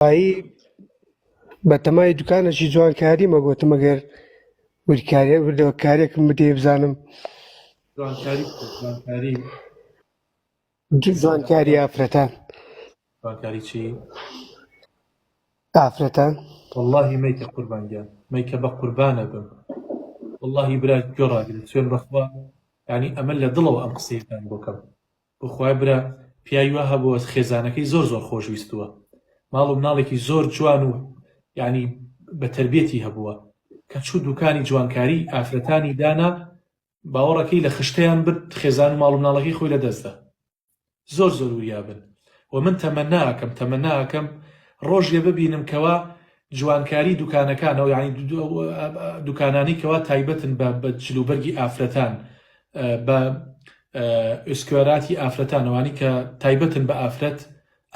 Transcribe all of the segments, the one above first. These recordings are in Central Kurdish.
ئایی بە تەمای دوکانەشی جوانکاری مەگوتم ئەگەر وریکاریە بردەوە کارێکم بدێ بزانم جوانکاری ئافرەتان جوانکاری چی؟ ئافرەتان واللهی میکە قوربانگیان میکە بە قوربانە بم واللهی برا گۆڕاگرێت سوێن بەخوا ینی ئەمە لە دڵەوە ئەم قسەیەکان بۆکەم بەخوای برا پیاوی وا هەبووە خێزانەکەی زۆر زۆر خۆش ویستووە ماڵ و مناڵێکی زۆر جوان و یانی بە تەربێتی هەبووە کە چوو دوکانی جوانکاری ئافرەتانی دانا باوەڕەکەی لە خشتەیان برد خێزان و ماڵ و مناڵەکەی خۆی لە دەستدا زۆر زۆر وریابن و من تەمەنا ئەکەم تەمەنا ئەکەم ڕۆژێ ببینم کەوا جوانکاری دوکانەکانەوە یانی دوکانانی کەوا تایبەتن بە بە جلوبەرگی ئافرەتان بە ئسکوێراتی ئافرەتانەوانی کە تایبەتن بە ئافرەت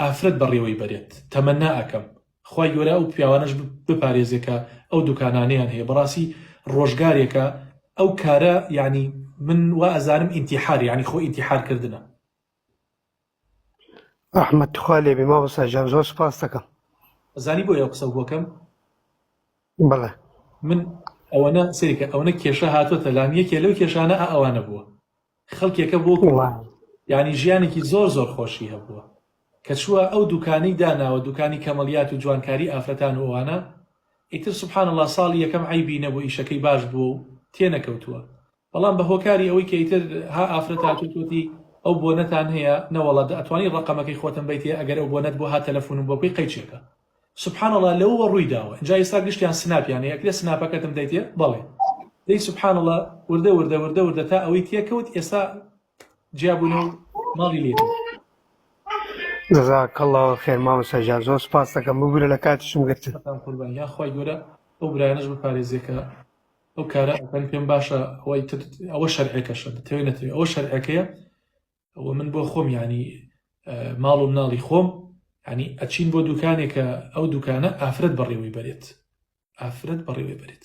ئافرەت بەڕێوەی بەرێت تەمەنا ئەەکەم خی گەورە ئەو پیاوانش بپارێزێکە ئەو دوکانانیان هەیە بەڕاستی ڕۆژگارێکە ئەو کارە یعنی من وا ئەزانم ئینتیحار یعنی خۆ ئینتیحارکردە ئەحمەد تخوا لێبی مامۆستا جان زۆر سپاستەکەم زانی بۆ یە قسە بۆکەم بڵێ من ئەوەنە سریکە ئەوەنە کێشە هاتووەتە لام یەکێ لەو کێشانە ئەوانە بووە خەڵکێکە بۆ ینی ژیانێکی زۆر زۆر خۆشی هەبووە کە چووە ئەو دوکانی داناوە دوکانی کەمەڵیات و جوانکاری ئافرەتان و ئەوانە ئیتر سبحان الله ساڵی یەکەم عیبی نەبوو ئیشەکەی باش بووە و تێنەکەوتووە بەڵام بە هۆکاری ئەوەی کە ئیتر ها ئافرەت هاتووت وتی ئەو بۆنەتان هەیە نەوەڵا دە ئەتوانی ڕەقەمەکەی خۆتم بەیتێ ئەگەر ئەو بۆنەت بوو ها تەلەفونم بۆ بکەی قەیچێکە سبحان اللە لەووە ڕووی داوە ئینجا ئێستا گشتیان سناپیان هەیە ئەکرێ سناپەکەتم دەیتێ بەڵێ دەی سبحان اللە وردە وردە وردە وردە تا ئەوەی تێکەوت ئێستا جیا بوون و ماڵی لێ کرد. جزاک اللە خیر مامۆستا گیان زۆر سوپاس دەکەم ببورە لە کاتیشم گرتن. سەتان قوربان یان خوای گەورە ئەو برایانەش بپارێزێ کە ئەو کارە ئەکەن پێم باشە ئەوەی تر ئەوە شەرعەکەشە دەتەوێت نەتەوێت ئەوە شەرعەکەیە ئەوە من بۆ خۆم ینی ماڵ و مناڵی خۆم ینی ئەچین بۆ دوکانێکە ئەو دوکانە ئافرەت بەڕێوەی بەرێت ئافرەت بەڕێوەی بەرێت